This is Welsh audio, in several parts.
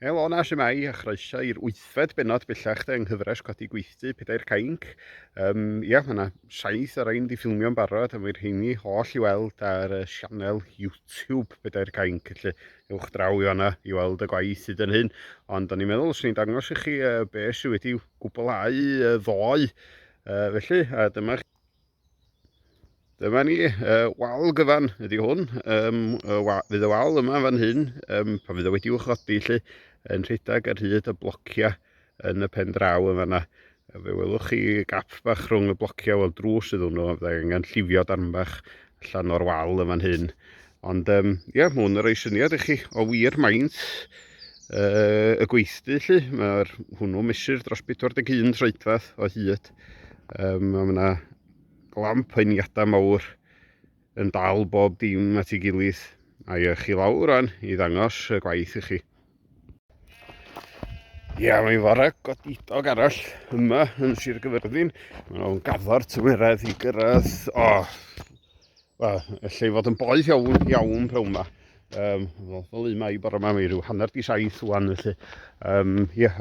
Helo yna, shwmae, a chroeso i'r wythfed benod bellach de yng nghyfres Codi Gweithdy, Pedair Cainc. Um, ia, mae yna saith ar ein di ffilmio'n barod, a mae'r heini holl i weld ar y sianel YouTube Pedair Cainc, felly ewch draw i fanna i weld y gwaith hyd yn hyn. Ond o'n i'n meddwl, os ni'n dangos i chi uh, beth sydd wedi gwblhau y ddoe, uh, felly, a dyma Dyma ni, uh, wal gyfan ydy hwn. Um, y wa, fydd y wal yma fan hyn, um, pan fydd o wedi wchodi lle, yn rhedeg ar hyd y blociau yn y pen draw yma yna. Fe welwch chi gap bach rhwng y blociau, wel drws iddyn nhw, fe angen llifio darn bach allan o'r wal yma'n hyn. Ond um, yeah, mae hwn yn rhoi syniad i chi o wir maint uh, y gweithdy lli. Mae'r hwnnw mesur dros 41 troedfadd o hyd. Um, mae yna glamp heiniadau mawr yn dal bob dim at ei gilydd. A i chi lawr rhan i ddangos y gwaith i chi. Ia, mae'n fore godidog arall yma yn Sir Gyfyrddin. Mae'n o'n gaddo'r tymheredd i gyrraedd... O, wel, allai fod yn boeth iawn, iawn pe yma. Um, fel un mae i bore yma, mae rhyw hanner di saith wan, felly. Um, ia,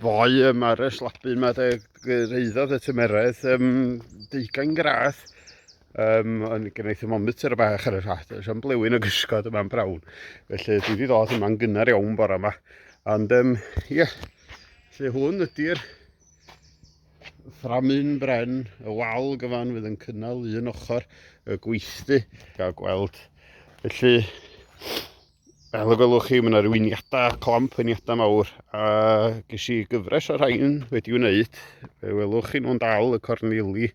ddoe mae'r slabu yma de, reiddodd y tymeredd um, deugain gradd. Um, ond gen i thermometr y bach ar y rhath, oes am blewyn o gysgod yma'n brawn. Felly dwi wedi dod yma'n gynnar iawn bore yma. Ond um, yeah, lle hwn ydy'r fframun bren y wal gyfan fydd yn cynnal un ochr y gweithdy. Gael gweld. Felly, Fel y gwelwch chi, mae yna rwyniadau, clamp rwyniadau mawr, a ges i gyfres o'r rhain wedi wneud. Fe welwch chi nhw'n dal y corneli,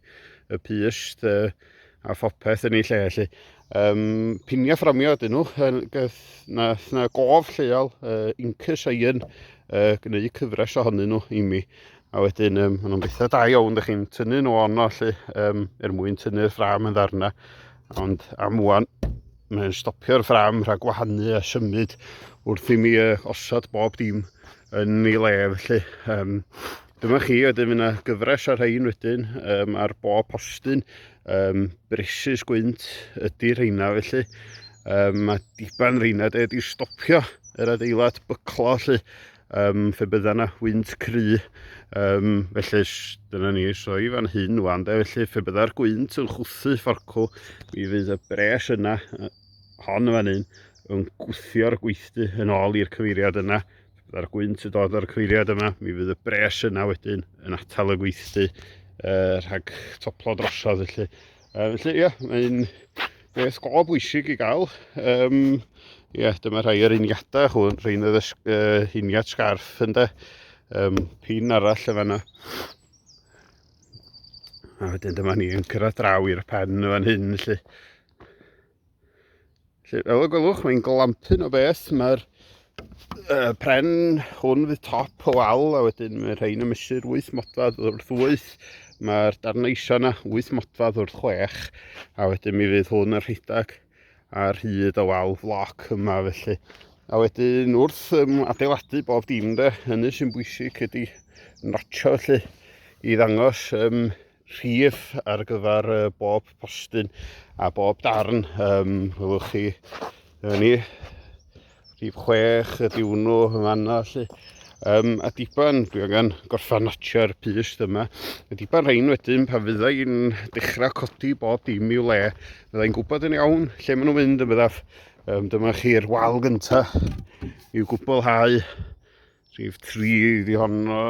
y pyst uh, a phopeth yn ei lle. Felly. Um, piniau fframio ydyn nhw, na, na gof lleol, uh, incus a un, uh, gwneud cyfres ohonyn nhw i mi. A wedyn, um, maen nhw'n bethau da iawn, ydych chi'n tynnu nhw ono, lle, um, er mwyn tynnu'r ffram yn ddarna. Ond am wwan, mae'n stopio'r ffram rhag gwahanu a symud wrth i mi uh, osod bob dim yn ei le felly um, dyma chi wedyn fyna gyfres ar rhain wedyn um, ar bob postyn um, bresus gwynt ydy rheina felly um, mae diban rheina de wedi stopio yr adeilad byclo felly um, fe bydda na wynt cry, um, felly dyna ni soi fan hyn wan, de, felly fe bydda'r gwynt yn chwthu fforcw, mi fydd y bres yna, hon fan hyn, yn gwthio'r gweithdy yn ôl i'r cyfeiriad yna, fe bydda'r gwynt yn dod o'r cyfeiriad yma, mi fydd y bres yna wedyn yn atal y gweithdy uh, rhag toplo drosodd, felly Uh, felly, ie, mae'n beth go bwysig i gael. Um, ie, dyma rhai o'r uniadau hwn, rhain oedd y uh, uniad sgarff yn de. Um, pin arall y fanna. A wedyn dyma ni yn cyrraedd draw i'r pen y fan hyn, felly. Felly, fel y gwelwch, mae'n glampyn o beth. Mae'r uh, pren hwn fydd top o wal, a wedyn mae rhain yn mysur 8 modfad wrth 8. Mae'r darnau isio yna 8 modfad wrth 6, a wedyn mi fydd hwn yn rhedeg ar hyd o wal floc yma felly. A wedyn wrth um, adeiladu bob dim de, hynny sy'n bwysig ydy notio felly i ddangos um, rhif ar gyfer uh, bob postyn a bob darn. Um, welwch chi, yna ni, rhif chwech y diwrnw yn fanna, lle. Um, a diban, dwi angen gorffan natio'r pyst yma. A diban rhain wedyn, pan fydda i'n dechrau codi bob dim i'w le, fydda i'n gwybod yn iawn lle maen nhw'n mynd yn byddaf. Um, dyma chi'r wal gyntaf i'w gwblhau Rhif 3 iddi honno,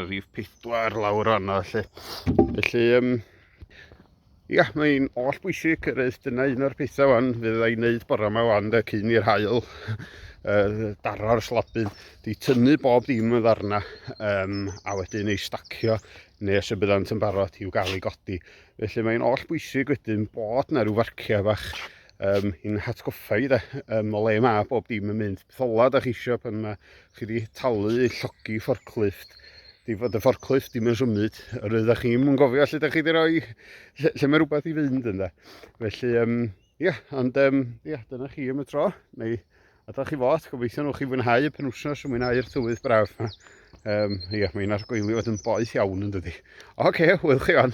rhif 4 lawr anna lle. Felly, um, ia, mae'n oll bwysig yr eith dyna un o'r pethau fan fydd ei wneud bore yma fan de cyn i'r hael uh, daro'r slabyn, di tynnu bob dim yn ddarna um, a wedyn ei stacio nes y byddant yn barod i'w gael ei godi. Felly mae'n oll bwysig wedyn bod na rhyw farciau fach um, i'n hatgoffa i de, um, o le mae bob dim yn mynd. thola da chi eisiau pan mae chi wedi talu i llogi fforclifft di fod y fforclifft ddim yn symud yr ydych chi ddim yn gofio lle da chi wedi rhoi lle, lle mae rhywbeth i fynd yn da felly um, ia, ond um, ia, dyna chi am y tro neu a da chi fod gobeithio nhw chi fwynhau y penwsnos yn mwynhau'r tywydd braf yma um, ia, mae'n argoelio fod yn boeth iawn yn dydy oce, okay, wyl chi on